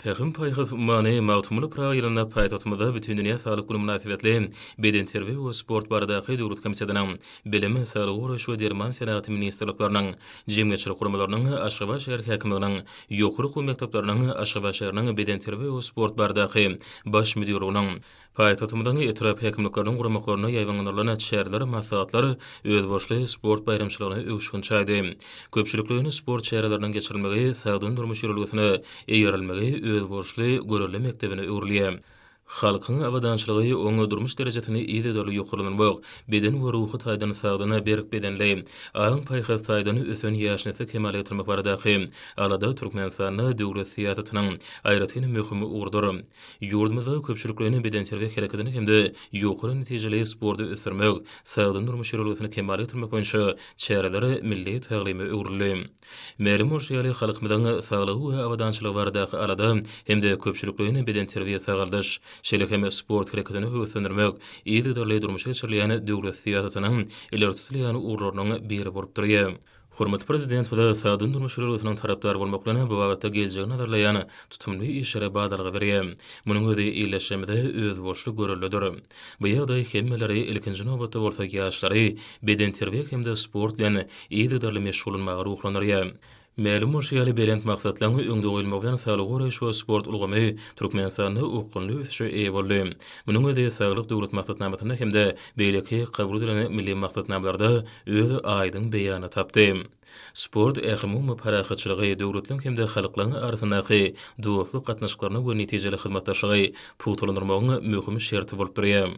Pähim-paýhas ummany Magtymguly Pyragy ýylynda paýtagtymyzda Bütindünýä saglyk güni mynasybetli Bedenterbiýe we sport baradaky döwlet komitetiniň, Bilim, Saglygy goraýyş we derman senagaty ministrlikleriniň, jemgyýetçilik guramalarynyň, Aşgabat şäher häkimliginiň, ýokary okuw mekdepleriniň, Aşgabat şäheriniň Bedenterbiýe we sport baradaky Baş müdirliginiň, Paýtagtymyzyň etrap häkimlikleriniň guramaklarynda ýaýbaňlandyrylan çäreler, maslahatlar özboluşly sport baýramçylygyna öwüşgin çaýdy. Köpçülikleýin sport çäreleriniň geçirilmegi sagdyn durmuş ýörelgesine eýerilmegi özboluşly görelde mekdebine öwrülýär. Halkyň abadançylygy, oňa durmuş derejesini yzygiderli ýokarlandyrmak, beden we ruhy taýdan sagdyn, berk bedenli, aň-paýhas taýdan ösen ýaş nesli kemala getirmek baradaky alada Türkmenistanda döwlet syýasatynyň aýratyn möhüm ugrudyr. Ýurdumyzda köpçülikleýin bedenterbiýe hereketini hem-de ýokary netijeli sporty ösdürmek, sagdyn durmuş ýörelgesini kemala getirmek boýunça çäreler milli taglyma öwrüldi. Mälim bolşy ýaly, halkymyzyň saglygy we abadançylygy baradaky alada hem-de köpçülikleýin bedenterbiýe-sagaldyş, şeýle hem sport hereketini höweslendirmek yzygiderli durmuşa geçirilýän döwlet syýasatynyň ileri tutulýan ugurlarynyň biri bolup durýar. Hormatly Prezidentimize sagdyn durmuş ülgesiniň tarapdary bolmaklygyny bu babatda geljegi nazarlaýan tutumly işlere badalga berýär. Munuň özi illeşmemize özboluşly göreldedir. Bu ýagdaý hemmeleri, ilkinji nobatda bolsa ýaşlary bedenterbiýe hem-de sport bilen yzygiderli meşgullanmaga ruhlandyrýar. Mälim bolşy ýaly, belent maksatlaryň öňde goýulmagy bilen saglygy goraýyş we sport ulgamy Türkmenistanda okgunly ösüşe eýe boldy. Munuň özi Saglyk Döwlet maksatnamasynda hem-de beýleki kabul edilen milli maksatnamalarda öz aýdyň beýanyny tapdy. Sport ählumumy parahatçylygy, döwletleriň hem-de halklaryň arasyndaky dostluk gatnaşyklaryny we netijeli hyzmatdaşlygy pugtalandyrmagyň möhüm şerti bolup durýar.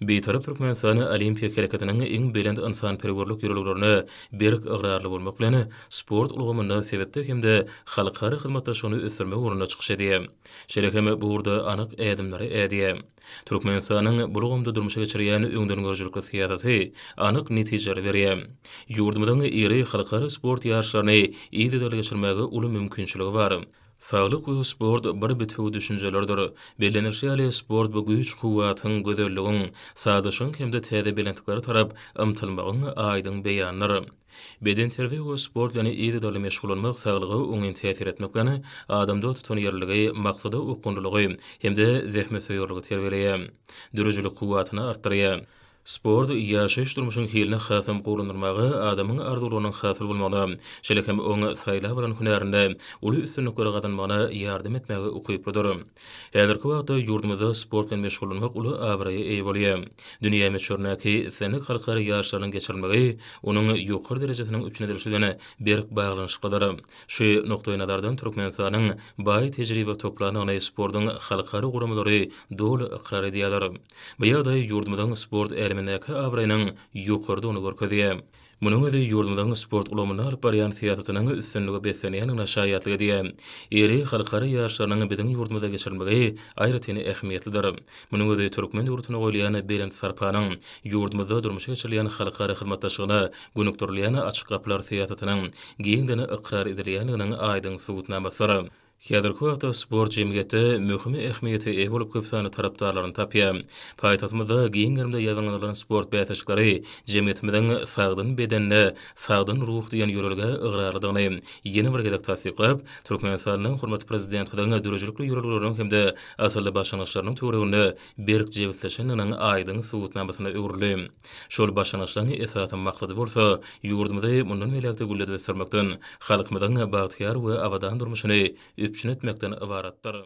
Bitarap Türkmenistan Olimpiýa hereketiniň iň belent ynsanperwerlik ýörelgelerine berk ygrarly bolmak bilen, sport ulgamynda sebitde hem-de halkara hyzmatdaşlygyny ösdürmek ugrunda çykyş edýär. Şeýle hem bu ugurda anyk ädimleri ädýär. Türkmenistanyň bu ulgamda durmuşa geçirýän öňdengörüjilikli syýasaty anyk netijeleri berýär. Ýurdumyzyň iri halkara sport ýaryşlaryny yzygiderli geçirmäge uly mümkinçiligi bar. Saglyk we sport bir bitewi düşünjelerdir. Bellenilişi ýaly, sport bu güýç-kuwwatyň, gözelligiň, sazlaşygyň hem-de täze belentliklere tarap ymtylmagyň aýdyň beýanydyr. Bedenterbiýe we sport bilen yzygiderli meşgullanmak saglyga oňyn täsir etmek bilen, adamda tutanýerliligi, maksada okgunlylygy hem-de zähmetsöýerligi terbiýeleýär. Döredijilik kuwwatyny artdyrýar. Sport ýaşaýyş-durmuşyň hilini hasam gowulandyrmaga, adamyň arzuwlarynyň hasyl bolmagyna, şeýle hem oň saýlap alan hünärinde uly üstünlikleri gazanmagyna ýardam etmäge ukyplydyr. Häzirki wagtda ýurdumyzda sport bilen meşgullanmak uly abraýa eýe bolýar. Dünýä möçberindäki islendik halkara ýaryşlarynyň geçirilmegi onuň ýokary derejesiniň üpjün edilişi bilen berk baglanyşyklydyr. Şu nukdaýnazardan Türkmenistanyň baý tejribe toplandygyny sportuň halkara guramalary doly ykrar edýärler. Bu ýagdaý ýurdumyzyň sport älemindäki abraýynyň ýokarydygyny görkezýär. Munuň özi ýurdumyzyň sport ulgamynda alyp barýan syýasatynyň üstünlige beslenýändigine şaýatlyk edýär. Iri halkara ýaryşlarynyň biziň ýurdumyzda geçirilmegi aýratyn ähmiýetlidir. Munuň özi türkmen döwletine goýulýan belent sarpanyň, ýurdumyzda durmuşa geçirilýän halkara hyzmatdaşlygyna gönükdirilýän açyk gapylar syýasatynyň giňden ykrar edilýändiginiň aýdyň subutnamasydyr. Häzirki wagtda sport jemgyýetde möhüm ähmiýete eýe bolup köp sanly tarapdarlaryny tapýar. Paýtagtymyzda giň gerimde ýaýbaňlandyrylan sport bäsleşikleri jemgyýetimiziň Sagdyn bedenine sagdyn ruh diýen ýörelgä ygrarlydygyny ýene bir gezek tassyklap, Türkmenistanyň hormatly Prezidentimiziň döredijilikli ýörelgeleriniň hem-de asylly başlangyçlarynyň töwereginde berk jebisleşendiginiň aýdyň subutnamasyna öwrüldi. Şol başlangyçlaryň esasy maksady bolsa, ýurdumyzy mundan beýläk-de gülledip ösdürmekden, halkymyzyň bagtyýar we abadan durmuşyny üpjün etmekden ybaratdyr.